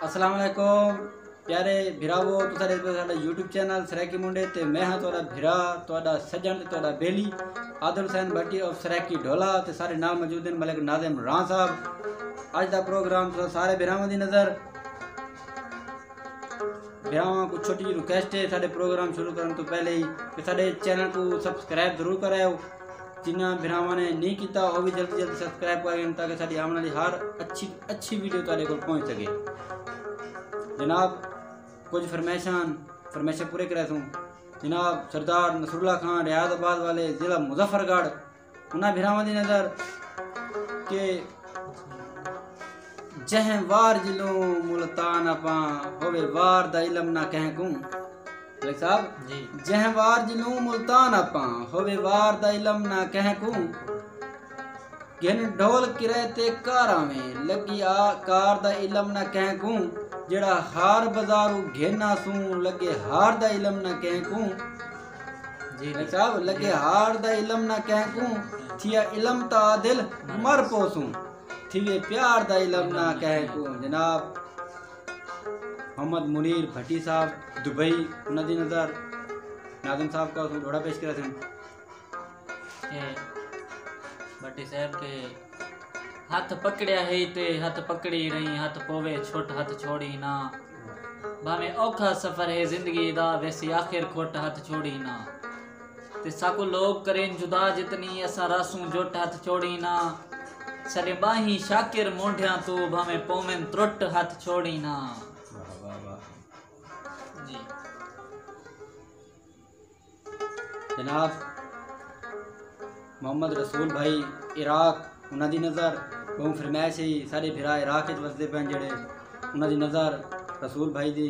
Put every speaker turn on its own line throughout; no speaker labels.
السلام علیکم پیارے بھراو تساں ڈیکھ رہے ساڈا یوٹیوب چینل سرائیکی منڈے تے میں ہاں تہاڈا بھرا تہاڈا سجن تے تہاڈا بیلی عادل حسین بھٹی اور سرائیکی ڈھولا تے سارے نال موجود ہیں ملک ناظم راں صاحب اج دا پروگرام تساں سارے بھراواں دی نظر بھراواں کو چھوٹی جی ریکویسٹ ہے ساڈے پروگرام شروع کرن تو پہلے ہی کہ ساڈے چینل کو سبسکرائب ضرور کرایو جنہاں بھراواں نے نہیں کیتا او بھی جلدی جلدی سبسکرائب کر گئے تاکہ ساری آمن والی ہر اچھی اچھی ویڈیو تارے کو پہنچ سکے جناب کچھ فرمیشاں فرمیشاں پورے کرے سوں جناب سردار نصر اللہ خان ریاض آباد والے ضلع مظفر گڑھ انہاں بھراواں دی نظر کہ جہیں وار جلو ملتان اپاں ہووے وار دا علم نہ کہیں کوں بھائی صاحب جی جہیں وار جلو ملتان اپاں ہووے وار دا علم نہ کہیں کوں گھن ڈھول کرے تے کار آویں لگی آ کار دا علم نہ کہیں کوں جڑا ہار بازارو گھن آسوں لگے ہار دا علم نہ کہیں کوں جی بھائی صاحب لگے ہار دا علم نہ کہیں کوں تھیا علم تا دل مر پوسوں تھیوے پیار دا علم نہ کہے کوں جناب محمد منیر بھٹی صاحب دبئی انہاں دی نظر ناظم صاحب کا اسوں ڈوڑا پیش کرا سن کہ
بھٹی صاحب کے ہاتھ پکڑیا ہی تے ہاتھ پکڑی رہی ہاتھ پوے چھوٹ ہاتھ چھوڑی نہ بھاویں اوکھا سفر ہے زندگی دا ویسی آخر کھوٹ ہاتھ چھوڑی نہ تے ساکوں لوک کرین جدا جتنی اساں رہسوں جٹ ہتھ چھوڑیں نا ساڈیں ٻانہیں شاکر مونڈھیاں توں بھانویں پوون ترٹ ہتھ چھوڑیں نا
جناب محمد رسول بھائی عراق انہاں دی نظر بہوں فرمائش ہی سارے بھرا عراق وچ وسدے پن جڑے انہاں دی نظر رسول بھائی دی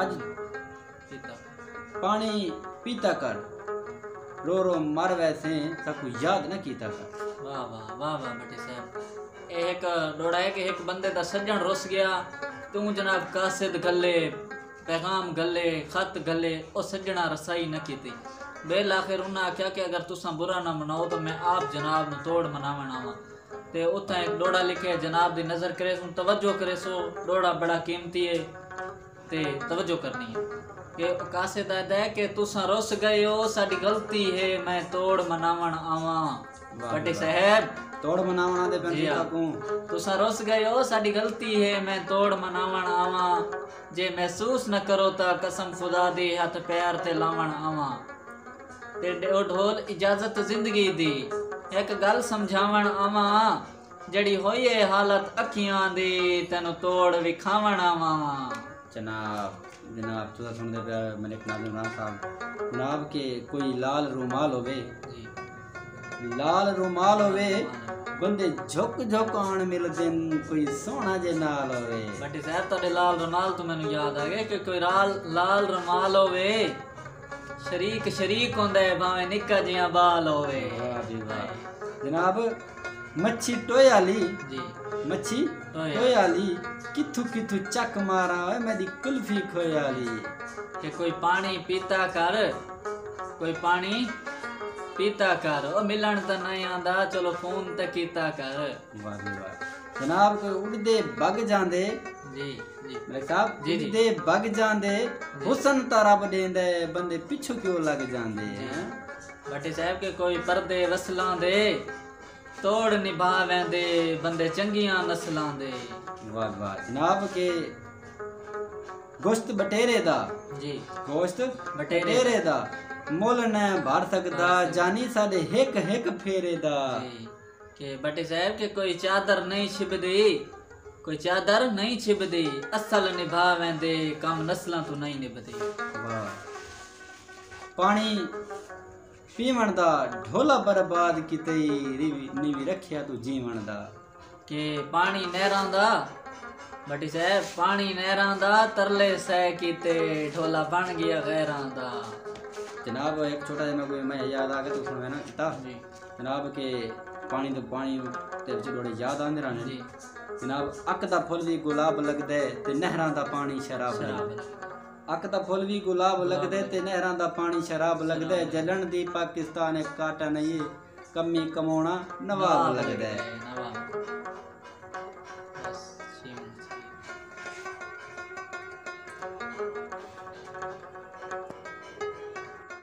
اج
پاݨی
پیتا کر رو رو مر ویسیں ساکوں یاد نہ کیتا کر۔ واہ واہ واہ واہ
بھٹی صاحب اے ہک ݙوڑا ہے کہ ہک بندے دا سڄݨ رس ڳیا توں جناب قاصد گھلے پیغام گھلے خط گھلے او سڄݨاں رسائی نہ کیتی ٻیل آخر انہاں آکھیا کہ اگر تساں برا نہ مناؤ تاں میں آپ جناب نوں توڑ مناوݨ آواں تے اتھاں ہک ݙوڑا لکھیا ہے جناب دی نظر کریسوں توجہ کریسو ݙوڑا بڑا قیمتی ہے تے توجہ کرنی ہے کہ کاسے دا ہے کہ تساں رس گئے ہو ساڈی غلطی ہے میں توڑ مناون آواں بٹے صاحب توڑ مناون آندے
پن جی ہاں۔ کو تساں رس گئے
ہو ساڈی غلطی ہے میں توڑ مناون آواں جے محسوس نہ کرو تا قسم خدا دی ہتھ پیر تے لاون آواں تے ݙیو ڈھول اجازت زندگی دی ہک ڳالھ سمجھاوݨ آواں جیڑھی ہوئی اے حالت اکھیاں دی تینوں توڑ وکھاوݨ آواں۔ جناب
جناب تساں سݨدے پئے ہو ملک ناز عمران صاحب جناب کہ کوئی لال رومال ہووے لال رومال ہووے بندے جھک جھک آن ملدن کوئی سوہنا جے نال ہووے بھٹی صاحب تہاڈے لال
رومال توں مینوں یاد آ گئے کہ کوئی لال رومال ہووے شریک شریک ہوندے بھاویں نکا جیہاں بال ہووے واہ جی واہ
جناب مچھی ٹوئے والی جی
مچھی
ٹوئے والی کتھو کتھو چک مارا ہوئے میری کلفی کھوئے والی
کہ کوئی پانی پیتا کر کوئی پانی پیتا کر او ملن تے نہیں آندا چلو فون تے کیتا کر واہ جی واہ
جناب کوئی اڑدے بگ جاندے جی
ملک صاحب جی جی دے
بگ
جاندے
حسن تا رب دیندے بندے پچھو کیوں لگ جاندے بٹی صاحب
کے کوئی پردے وصلان دے توڑ نبھا ویندے بندے چنگیاں نسلان دے واہ واہ
جناب کے گوشت بٹیرے دا جی گوشت بٹیرے
دا
مول نہ بھر سکدا جانی ساڈے ہک ہک پھیرے دا جی کہ
بھٹی صاحب کہ کوئی چادر نہیں چھبدی کوئی چادر نہیں چھبدی اصل نبھا ویندے کم نسلاں تو نہیں نبھدی
پانی پیون دا ڈھولا برباد کیتے نیوی رکھیا تو جیون دا کہ
پانی نہراں دا بھٹی صاحب پانی نہراں دا ترلے سہ کیتے ڈھولا بن گیا غیراں دا جناب
ایک چھوٹا جنا کوئی میں یاد آ گیا تو سنوینا کتاب جی جناب
کے
پانی دے پانی تے وچ ڈوڑے یاد آندے رہنے جی جناب
اک
دا پھل وی گلاب لگ دے تے نہراں دا پانی شراب لگ دے اک دا پھل وی گلاب لگ دے تے نہراں دا پانی شراب لگ دے جلن دی پاکستان ایک کاٹا نہیں کمی کمونا نواب لگ دے